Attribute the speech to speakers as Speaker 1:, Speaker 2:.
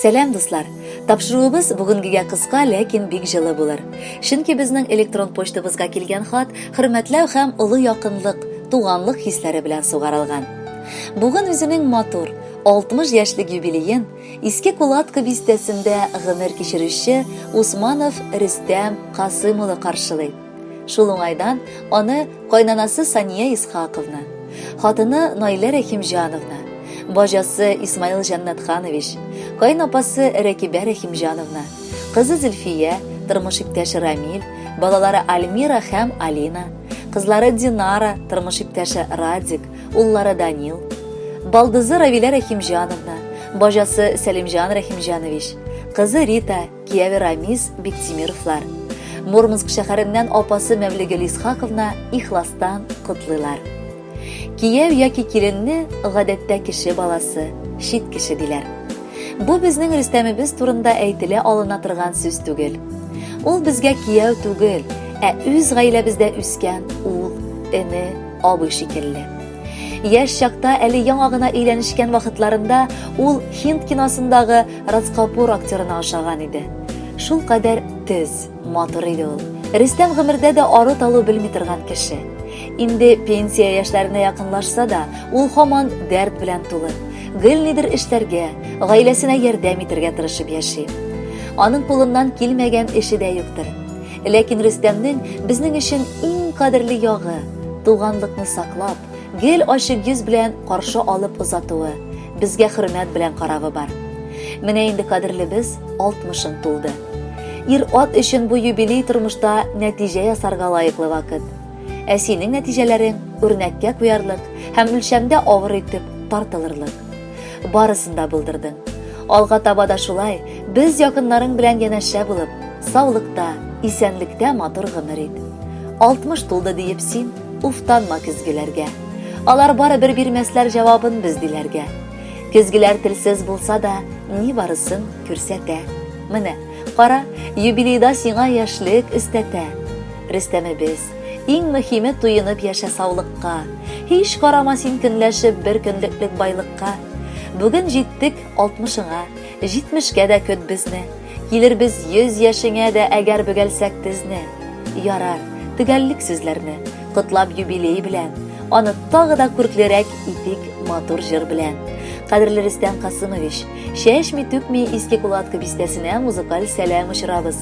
Speaker 1: Сәлам дуслар! Тапшыруыбыз бүгенгегә кыска, ләкин бик җылы булыр. Чөнки безнең электрон почтабызга килгән хат хөрмәтләү һәм олы якынлык, туганлык хисләре белән сугарылган. Бүген үзенең матур, 60 яшьлек юбилеен Иске Кулатка бистәсендә гомер кичерүче Усманов Рөстәм Касым улы каршылый. Шул уңайдан аны кайнанасы Сания Исхаковна, хатыны Наилә Рәхимҗановна, бажасы Исмаил Җаннатханович, кайнапасы Рәкибә Рәхимҗановна, кызы Зөлфия, тормыш иптәше Рамил, балалары Альмира һәм Алина, кызлары Динара, тормыш иптәше Радик, уллары Данил, балдызы Равилә Рәхимҗановна, бажасы Сәлимҗан Рәхимҗанович, кызы Рита, кияве Рамис Биктимировлар. Мурманск шәһәреннән апасы Мәвлегел Исхаковна ихластан котлыйлар. Кияв яки киленне гадәттә кеше баласы, чит кеше диләр. Бу безнең Рөстәмебез турында әйтелә алына торган сүз түгел. Ул безгә кияв түгел, ә үз гаиләбездә үскән ул, эне, абый шикелле. Яшь чакта әле яңа гына өйләнешкән вакытларында ул Хинд киносындагы Радскапур актерына ошаган иде. Шул кадәр төз, матур иде ул. Рөстәм гомердә дә ары талу белми торган кеше. Инде пенсия яшьләренә якынлашса да, ул һаман дәрт белән тулы. Гелнидер эшләргә, гаиләсенә ярдәм итәргә тырышып яши. Аның кулыннан килмәгән эше дә юктыр. Ләкин Рөстәмнең безнең өчен иң кадерле ягы, туганлыкны саклап, гел ачык йөз белән каршы алып озатуы, безгә хөрмәт белән каравы бар. Менә инде кадерлебез алтмышын тулды. Ир-ат өчен бу юбилей тормышта нәтиҗә ясарга лаеклы вакыт. Ә синең нәтиҗәләрең үрнәккә куярлык һәм үлчәмдә авыр итеп тартылырлык. Барысын да булдырдың. Алга таба да шулай, без якыннарың белән янәшә булып, саулыкта, исәнлектә матур гомер ит. 60 тулды диеп син уфтанма көзгеләргә. Алар бары бер бирмәсләр җавабын без диләргә. Көзгеләр телсез булса да, ни барысын күрсәтә. Менә, кара, юбилейда сиңа яшьлек өстәтә. Рөстәмебез, Иң мөхиме туенып яшә саулыкка. Һич карама син көнләшеп бер көнлеклек байлыкка. Бүген җиттек алтмышыңа, җитмешкә дә көт безне. Килербез йөз яшеңә дә әгәр бөгәлсәк тезне. Ярар, төгәллик сүзләрне, котлап юбилей белән. Аны тагы да күрклерәк итик матур җыр белән. Кадерле Рөстәм Касымович, чәчми-түкми Иске Кулаткы бистәсенә музыкаль сәлам очырабыз.